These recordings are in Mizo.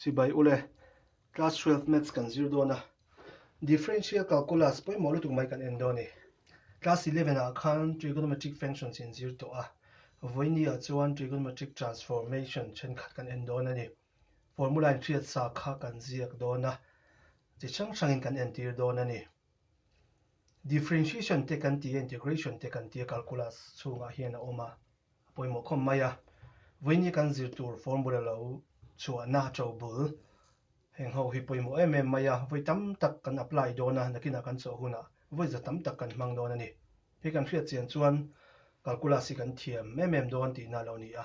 Chibai ule, class twelve maths kan zir dawn a, differential calculus pawimawh lutuk mai kan en dawn ni. Class eleven ah khan trigonometric functions in zir tawh a, vawiini ah chuan trigonometric transformation thenkhat kan en dawn a ni. Formula in hriatsa kha kan ziak dawn a, chi hrang hrangin kan entir dawn a ni. Differentiation te kan ti a, integration te kan ti a calculus chhungah hian a awm a, a pawimawh khawp mai a. Vawiin i kan zir tur formula lo chhuahna to bul heng ho hi pawimawh em em mai a, vawi tam tak kan apply dawn a, nakinah kan chawh hunah vawi za tam tak kan hmang dawn a ni. Hei kan hriat chian chuan calculus hi kan thiam em em dawn tihna lo ni a.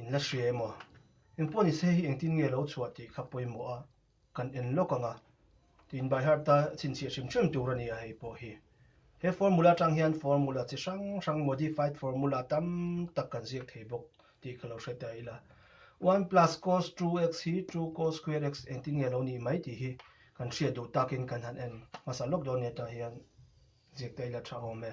In la hria emaw? Engpawh ni se hi engtin nge lo chhuah tih kha pawimawh a kan en lawk ang a, tiin by heart a chhinchhiah hrim hrim tur a ni a hei pawh hi. He formula atang hian formula chi hrang hrang, modified formula, tam tak kan ziak thei bawk tih ka lo hre ta ila. One plus cos 2x hi two cos square x engtin nge lo nih mai tih hi kan hriat duh takin kan han en hmasa lawk dawn nia tah hian ziak ta ila tha awm e.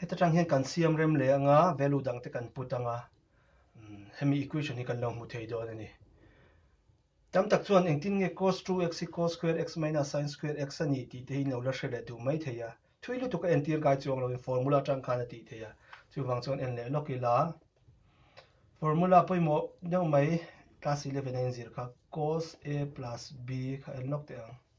Heta tang hian kan siam rem leh anga value dang te kan put anga hemi equation hi kan lo hmu thei dawn a ni. Tam tak chuan engtin nge cos 2x hi cos square x minus sin square x a ni tih te hi in lo la hre leh duh mai thei a. Thui lutuk a entir kai chuang lovin formula atang khan a tih thei a. Chuvang chuan en leh lawk ila formula pawimawh deuh mai class 11 a inzir kha cos a plus b kha en lawk teh ang.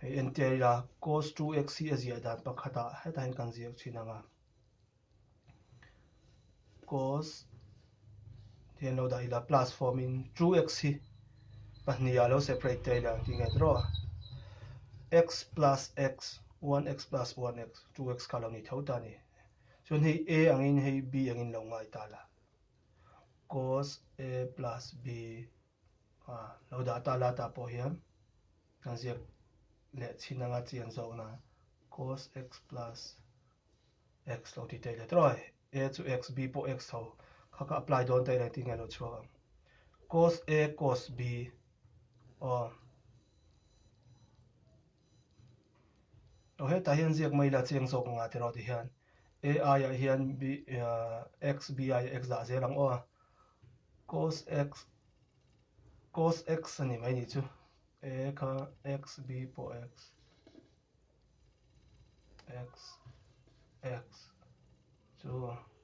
Hei entir ila cos 2x hi a ziah dan pakhatah hetah hian kan zir thin ang a. Cos thì an lo dah ila plus form in 2x hi pahnih a lo separate tir ila tih nge draw a. x plus x 1x plus 1x 2x kha lo ni tho ta ni. Chuan hei a angin hei b angin lo ngai ta la. Cos a plus b A lo dah ta la tah pawh hian kan ziak leh chhin anga chian zawkna cos x plus x lo ti teh let rawh ai. A chu x, b pawh x tho kha ka apply dawn ta ila intih ngei lo chhuak ang. Cos a cos b aw. Tawh hetah hian ziak mai ila cheng zawk ang ah tiraw ti hian ai ah hian x bih x dah zel ang aw a, cos x cos x a ni mai ni chu e kha x b pawh x x x chu.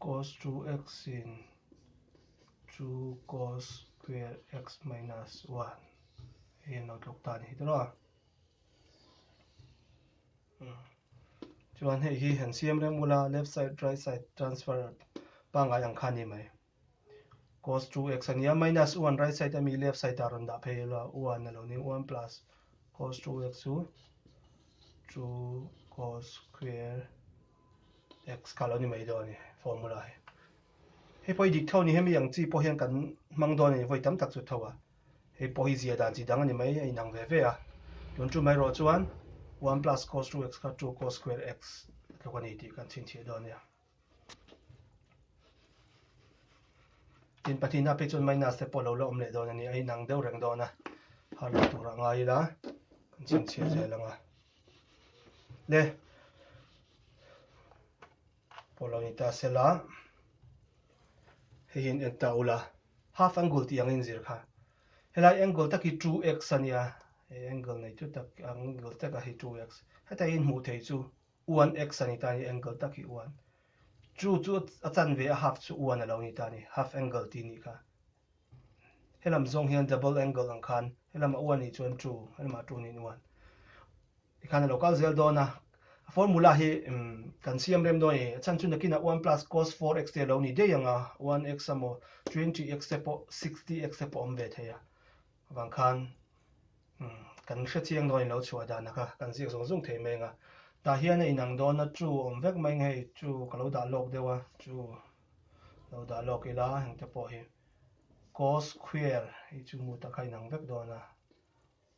Cos 2x sin 2 cos square x minus 1 hei an lo tlawk ta ni tawh a hmm. chuan hei hi han siam reng mula left side right side transfer pangai ang kha ni mai Cos 2x a ni a, minus 1 right side ami left side ah rawn dah phei ilo a, 1 a lo ni, 1 plus cos 2x chu 2 cos square x kha lo ni mai dawn a ni formula hi. Hei pawh hi dik tho a ni, hemi ang chi pawh hian kan hmang dawn a ni vawi tam tak chu tho a. Hei pawh hi zia dan chi dang a ni mai a inang ve ve a. Tun chu mai rawh chuan 1 plus cos 2x kha 2 cos square x a tluk a ni tih kan chhinchhiah dawn a ni. Tin pathianah phi chuan maina step pawh lo la awm leh dawn a ni. A inang deuh reng dawn a, har lak turah ngai ila kan chhinchhiah zel ang a. Le pawh lo ni ta sela hei hi an en ta ula half angle tih ang a inzir kha. Helai angle tak hi 2x a nia, he angle nei chu tak ang angle tak a hi 2x. Heta hi an hmuh theih chu. Uan X a ni ta ni, angle tak hi uan. Chu chu a chan ve a half chu uan a lo ni ta ni, half angle ti ni kha. Helam zawng hian double angle ang khan, helam a uan ni chuan chu, helam a chu ni uan. Ti khan a lo kal zel dawn a. Formula hi kan siam rem dawn a ni. A chan chu nakin ah uan plus cos 4x te a lo ni daih ang a, uan x a maw, 20x te pawh, 60x te pawh awm ve thei a. Vang khan umm kan hre chiang dawn a in lo chhuah dan a kha kan ziak zung zung thei mai ang a, tah hian a inang dawn a two awm vek mai ang hei two ka lo dah lawk deuh a two lo dah lawk ila engte pawh hi cos square hi chu hmuh tak kha a inang vek dawn a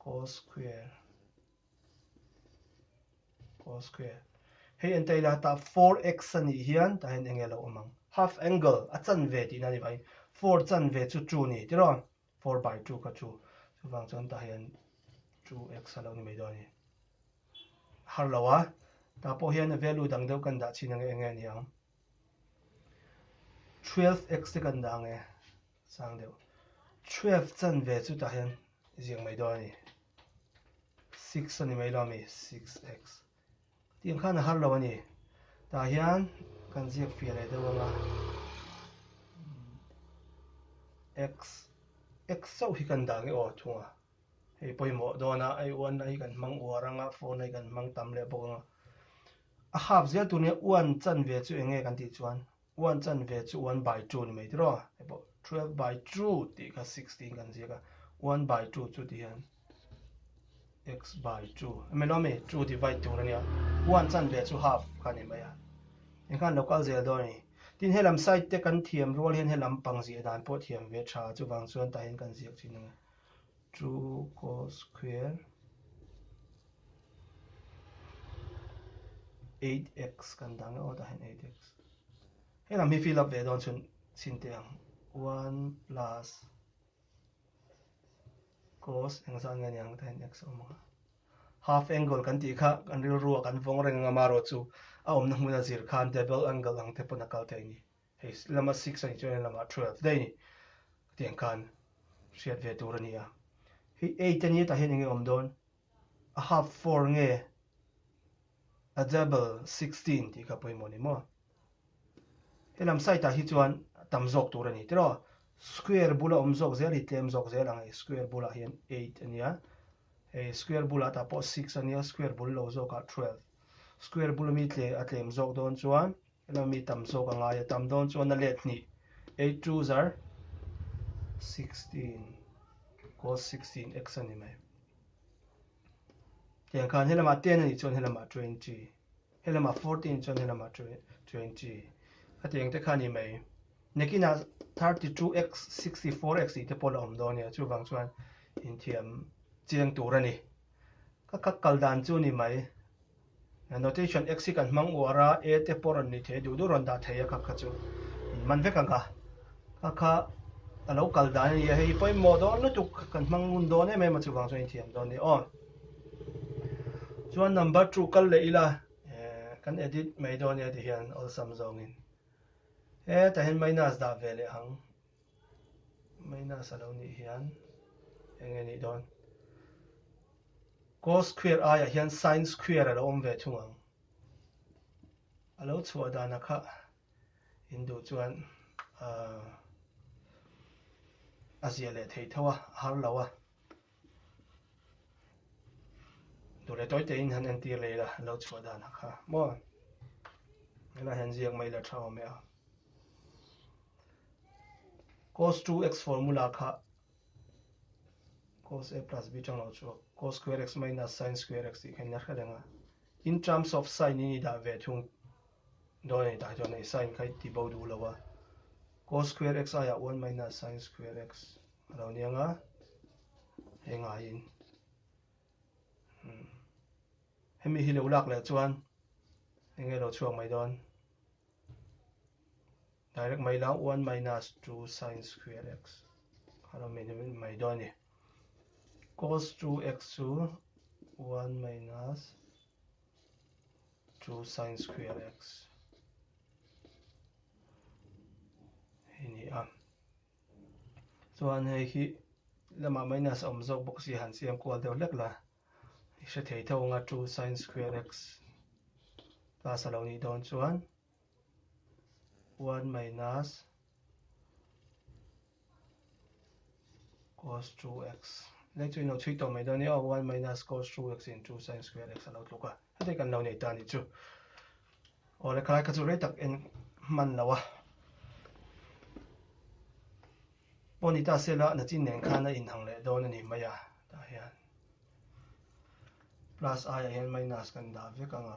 cos square cos square hei enta ila tah four x a nih hian tah hian enge lo awm ang half angle a chan ve tihna ni vahin four chan ve chu two ni tiraw. Four by two ka chu. Chuvang chuan tah hian two x a lo ni mai dawn a ni. A har lo a, tah pawh hian value dang deuh kan dah chin ange enge ni ang. Twelve x te kan dah ang e, sang deuh. Twelve chan ve chu tah hian ziak mai dawn a ni. Six a ni mai lo a mi, six x. Tiang khan a har lo a ni. Tah hian kan ziak fiah leh deuh ang a. X, X sauh hi kan dah nge aw thung a. Hei pawimawh dawn a, hei uan na hi kan hmang uar ang a, phone hi kan hmang tam leh bawk ang a. A hap zel tur nen uan chan ve chu eng nge kan tih chuan One chan ve chu one by two ni mai tiraw? Hei pawh twelve by two tih kha six tiin kan ziak a, one by two chu tih hian x by two a milo mi? Two divide tur a nia, one chan ve chu half kha a ni mai a, engkhan lo kal zel dawn a ni. Tin he lam side te kan thiam rual hian he lampang zia dan pawh thiam ve tha chuvang chuan tah hian kan ziak thin ang e. Chu Kawl Square eight x kan dang e aw tah hian eight x he lam hi fill up ve dawn chhun chhin teh ang one plus cos eng zan nge niang ta hian x a awm ang a half angle kan tih kha kan rilru a kan vawng reng ang a mah rawh chu a awmna hmuna zir khan double angle ang te pawn a kal thei a ni. Hei lama six a nih chuan lama twelve daih a ni. Ka ti ang khan hriat ve tur a ni a. Hei eight a ni hetah hian eng nge awm dawn? A half four nge? A double sixteen tih kha pawimawh a ni maw? He lam side ah hi chuan tam zawk tur a ni tiraw? Square bula awm zawk zel hi tlem zawk zel ang. Hei square bulah hian eight a nia. Hei square bulah tah pawh six a nia. Square bul lo zawkah twelve. Square bul ami tle a tlem zawk dawn chuan Emaw mi tam zawk a ngai a tam dawn chuan a let hnih, eight twos are sixteen cos sixteen x a ni mai. Tiang khan helama ten a nih chuan helama twenty, helama fourteen chuan helama twenty a tiang te kha a ni mai. Nekina thirty two x sixty four x tih te pawh la awm dawn a nia chuvang chuan inthiam chiang tur a ni. Ka kha kal dan chu a ni mai. Annotation Exit kan hmang uar a, A te pawh rawn ni thei duh duh rawn dah thei a kha kha chu. Min man vek ang kha. Kha kha a lo kal dan a nia, hei hi pawimawh dawn lutuk kan hmang ngun dawn em em a chuvang chuan in thiam dawn ni aw. Chuan number two kal leh ila, eh kan edit mai dawn nia ti hian awlsam zawngin. Heta hian minus dah ve leh ang. Mainasa lo nih hian eng e nih dawn? Cos square aiah hian sin square a lo awm ve thung ang. A lo chhuah dan a kha in duh chuan a ziah leh thei tho a, a har lo a. tûr leh tawite in han entir leh ila lo chhuah dan ha kha maw helai han ziak mai la tha awm e a cos 2x formula kha cos a plus b chang lo chuak cos square x minus sin square x tih kha in la hre reng a in terms of sin in i dah ve thung Donate ah chuan ei sign kha i ti bo duh lo a, cos square x aiah one minus sin square x a lo niang a, hei ngaiin umm hemi hi lo lak leh chuan eng nge lo chhuak mai dawn, direct mai lo one minus two sin square x a lo min rin mai dawn a ni, cos two x chu one minus chu sin square x hi a ni a chuan hei hi lamah minus a awm zawk bawk si han siam kual deuh hlek la i hre thei thung a two sin square x plus a lo nih dawn chuan. one minus cos 2x le chu ino chhui tawh mai dawn nia one minus cos 2x into sin square x alo tluk a heti kan lo nei ta ni chu aw le khalai kha chu rei tak en man lo a bonita sela na chin nen khan a in hang leh dawn ani mai a ta hian plus i a hian minus kan dah vek anga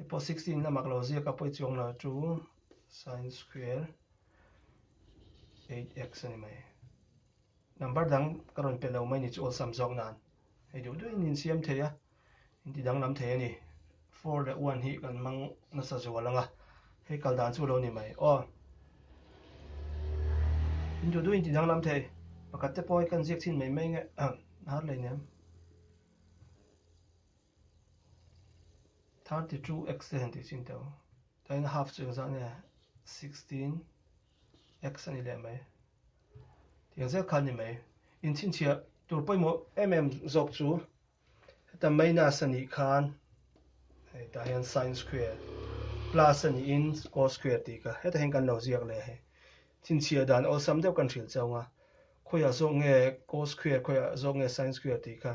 I pawh sixteen a mak lo ziak a pawih chuang loh chu sin square eight x a ni mai number dang ka rawn pe lo mai ni chu awlsam zawk nan hei duh duh in in siam thei a in ti danglam thei a ni four leh one hi kan mang nasa zual anga hei kal dan chu lo ni mai aw in duh duh in ti danglam thei pakhat te pawh kan ziak chin mai mai nge har lei nem Thirty two x te han tih chin teuh. Tlai na half chu engzah nge sixteen x a nih leh mai. Tih ang zel kha a ni mai. In chhinchhiah tur pawimawh em em zawk chu heta minus a nih khan hei tah hian sin square plus a nihin cos square tih ka heta hian kan lo ziak leh hei. Chhinchhiah dan awlsam deuh kan hrilh chauh ang a. Khawiah zawk nge cos square khawiah zawk nge sin square tih kha.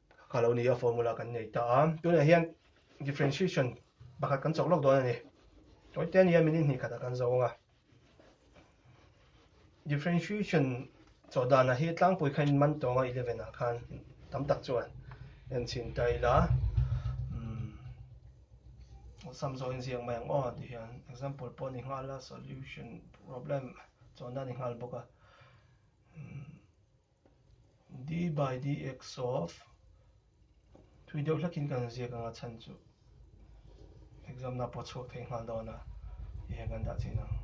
Ka lo ni a formula kan nei ta a. Tunah hian differentiation pakhat kan chawh lawk dawn a ni. Kawite a nia minute hnih khatah kan zo ang a. Differentiation chawh danah hi tlangpui kha inman tawng a eleven ah khan tam tak chuan en chhin ta ila sum zawh inziak mai ang aw ti hian example pawh ni nghal a solution problem chawhna ni nghal bawk a D by dx of thui deuh hlakin kan ziak anga chhan chu exam na pawh chhuak thei nghal dawn a tih hian kan dah chin ang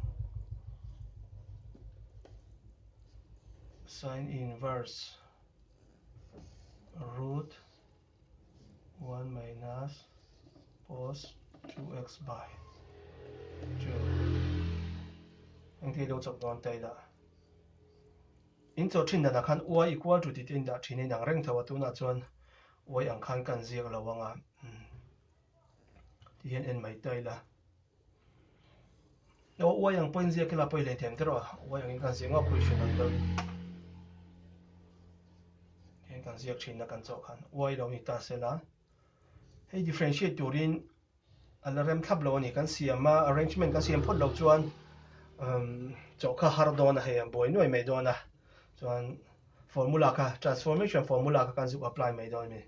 sin inverse root 1 minus cos 2x by 2 anh thei deuh chawp dawn tei dah In chaw thin danah khan uai i kual ṭutit a indah ṭhin a inang reng tho a, tunah chuan uai ang khan ka han ziak lo ang a, umm tih hian en mai ta ila. Aw uai ang pawhin ziak ila pawh i lei thiam teh rawh a, uai angin ka han ziak ngauh khawi ṭhin ang chuan heng kan ziak ṭhinna kan chaw khan uai lo ni ta sela, hei differentiate turin. A la rem thlap lo a ni. Kan siam a, arrangement kan siam phawt lo chuan umm chaw kha har dawn a, hei a buai nuai mai dawn a. Chuan formula kha, transformation formula kha kan zuk apply mai dawn a ni.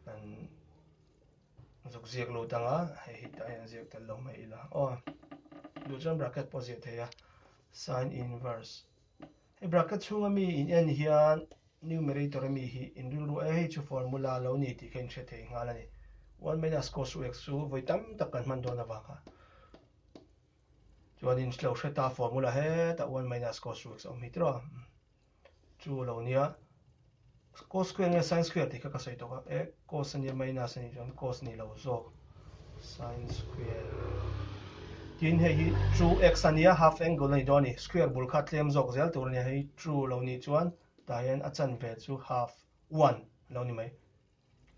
Kan zuk ziak lut ang a, hei hi a en ziak tel lo mai ila. Aw, duh chuan bracket pawh ziah thei a, sine inverse. Hei bracket chhunga mi in en hian numerator-a mi hi in rilru a, hei chu formula lo ni tih kha in hre thei nghal a ni. One minus cos ux chu vawi tam tak kan hman dawn avanga chuan in lo hret a, formula hetah one minus cos ux a awm hi tiraw? Chu lo nia, Cos square nge sin square tih kha ka sawi tawk a, eh cos a nia minus a ni chuan cos ni lo zawk, sin square tin hei hi two x a nia half angle a ni dawn a ni, square bul kha a tlem zawk zel tur a nia, hei two lo ni chuan tah hian a chanve chu half one a lo ni mai.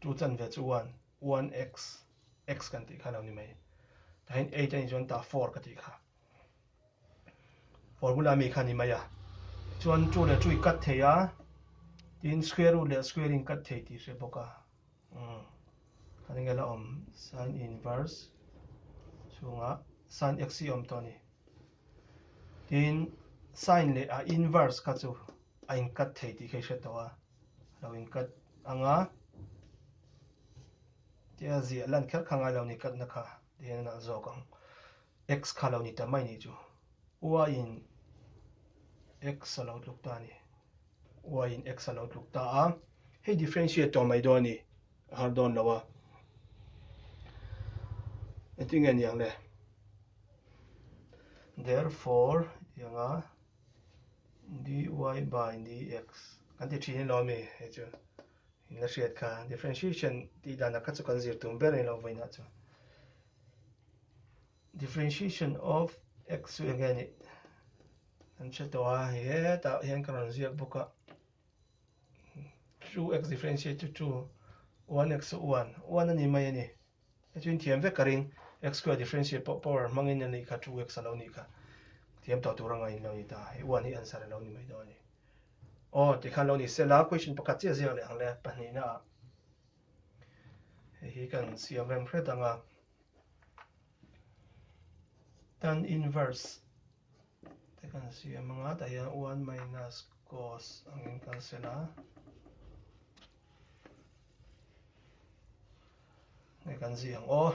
Chu chanve chu one, one x, x kan tih kha lo ni mai. Tain eight anih chuan ta four ka tih kha. Formula mi kha ni mai a. Chuan chu leh chu i cut thei a. Tin square root leh square in cut thei tih hre bawk a. Hmm. Kan nge la awm sin inverse chunga sin x i awm tawh ni. Tin sin leh a inverse kha chu a in cut thei tih kha i hre tawh a. lo in cut ang a tia ziah lan kher kha ngai lo ni cut na kha ti hian nalh zawk ang x kha lo ni ta mai ni chu y in x a lo tluk ta ni y in x a lo tluk ta a hei differentiate to mai do ni har don lo a etinge niang le therefore yanga dy by dx kan ti thin ilo a mi hei chu in la hriat kha differentiation tih dan ah kha chu kan zir tum ber a ilo vawi na chu differentiation of x chu enge ni kan hre tawh a hei hetah hian ka rawn ziak bawk a Two x differentiate to two one x saw one one ani mai ani a chin thiam vek ka ring x square differentiate pawh power hmangin ani kha two x alo ni kha thiam tawh tur angai lo ni ta he one hi answer alo ni mai dawn ani oh ti khan lo ni se la question pakhat che zia leh ang le pahnih na he hi kan siam rem hre danga tan inverse te kan siam ang a daih hian one minus cos angin kan sen a nge kan zih ang aw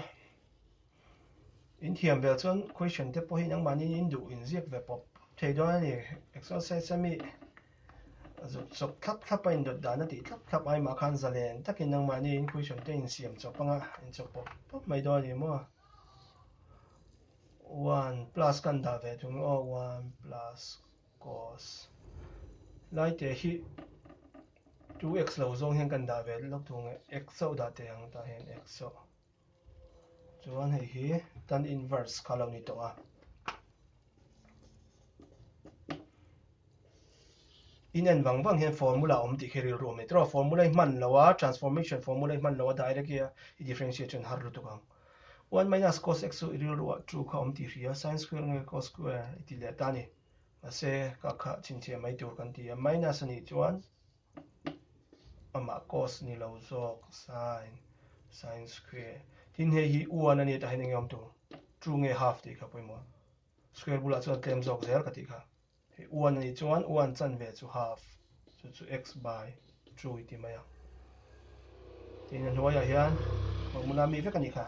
in thiam vel chuan question te pawhin ang manin in duh in ziak ve pawp thei dawn a ni exercise ami zuk chawp thlap thlap a in dawt dan a tih thlap thlap ai mah khan zalen takin ang manin question te in siam chawp ang a in chawp pawp pawp mai dawn a ni maw One plus kan dah ve thung lo aw one plus cos lai teh hi two x lo zawng hian kan dah ve lawk thung e x chauh dah teh ang tah hian x chauh chuan hei hi tan inverse kha lo ni tawh a in en vang vang hian formula awm tih khi ril ruah mai trawh formula hi hman lo a transformation formula hi hman lo a direct hi a i differentiate chuan har lutuk ang One minus cos x chu i rilru ah true kha awm tih hri a, sin square nge cos square i tih leh ta ni. Mahse, ka khah chhinchhiah mai tur kan ti a, minus a nih chuan amah cos ni lo zawk, sin, sin square. Tin, hei hi one a ni tahin enge awm tur? True nge half tih kha pawimawh. Square bulah chuan tlem zawk zel ka tih kha. Hei uan a nih chuan uan chanve chu half chu chu x by two i ti mai ang. Tiin a hnuaiah hian formula mi vek a ni kha.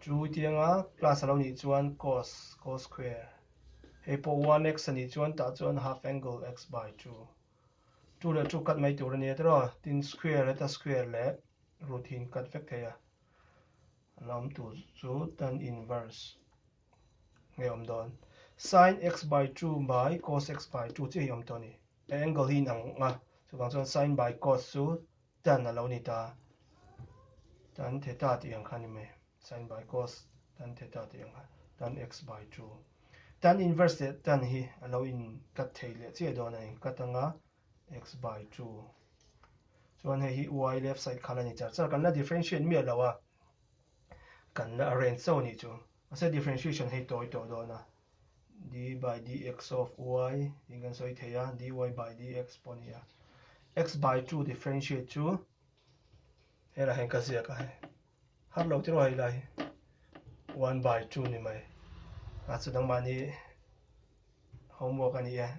Two i ti anga plus a lo nih chuan cos, cos square. Hei pawh one x a nih chuan tah chuan half angle x by two. Two leh two cut mai tur a nia tih rawh. Tin square heta square leh root hi in cut vek thei a. An awm tur chu tan inverse. Hei awm dawn. Sin x by 2 by cos x by 2 chu hei awm tawh a ni. He angle hi in ang a, chuvang chuan sin by cos chu tan a lo ni ta. Tan theta tih ang kha a ni mai. Sin by cos tan theta tih ang kha, tan x by 2. Tan inverse leh tan hi a lo in cut thei leh chiah dawn a ni. Cut anga x by 2. Chuan hei hi y left side khala ni char char. Kan la differentiate miah lo a. kanna a range chauh anih chu. Mahse differentiation hei tawi tawh dawn a, dy dx of y tiin kan sawi thei a, dy by dx pawh a ni a. X by two differentiate chu he lah hian ka ziak a, har lo tiraw hei lah hi one by two ni mai. A chu nangmahni homework a ni e,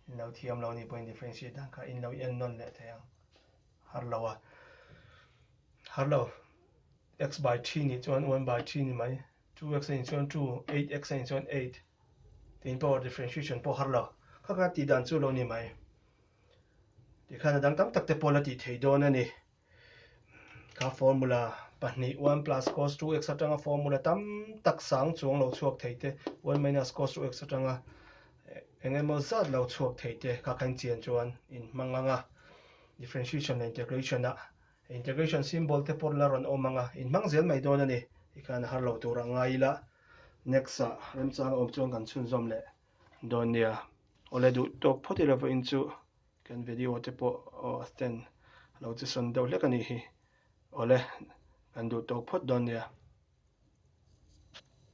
inlo thiam lo a ni pawhin differentiate dan kha inlo en nawn leh thei ang. Harlo a, harlo, x by three nih chuan one by three ni mai, two x a nih chuan two, eight x a nih chuan eight, tiin power differentiation pawh harlo, kha khan tih dan chu lo ni mai. Tih khan a dang tam tak te pawh la tih thei dawn a ni. Kha formula pahnih, one plus cos two x atanga formula tam tak sang chuang lo chhuak thei te, one minus cos two x atanga, Eng emaw zat lo chhuak thei te kha kan chian chuan in hmang ang a, differentiation leh integration ah integration symbol te pawh la rawn awm ang a, in hmang zel mai dawn a ni. I khan a har lo tur a ngai ila, next ah remchang a awm chuan kan chhunzawm leh dawn nia. Awle duh tawk phawt i lovah in chu kan video te pawh stand lo che sawn deuh hlek a nih hi. Awle kan duh tawk phawt dawn nia.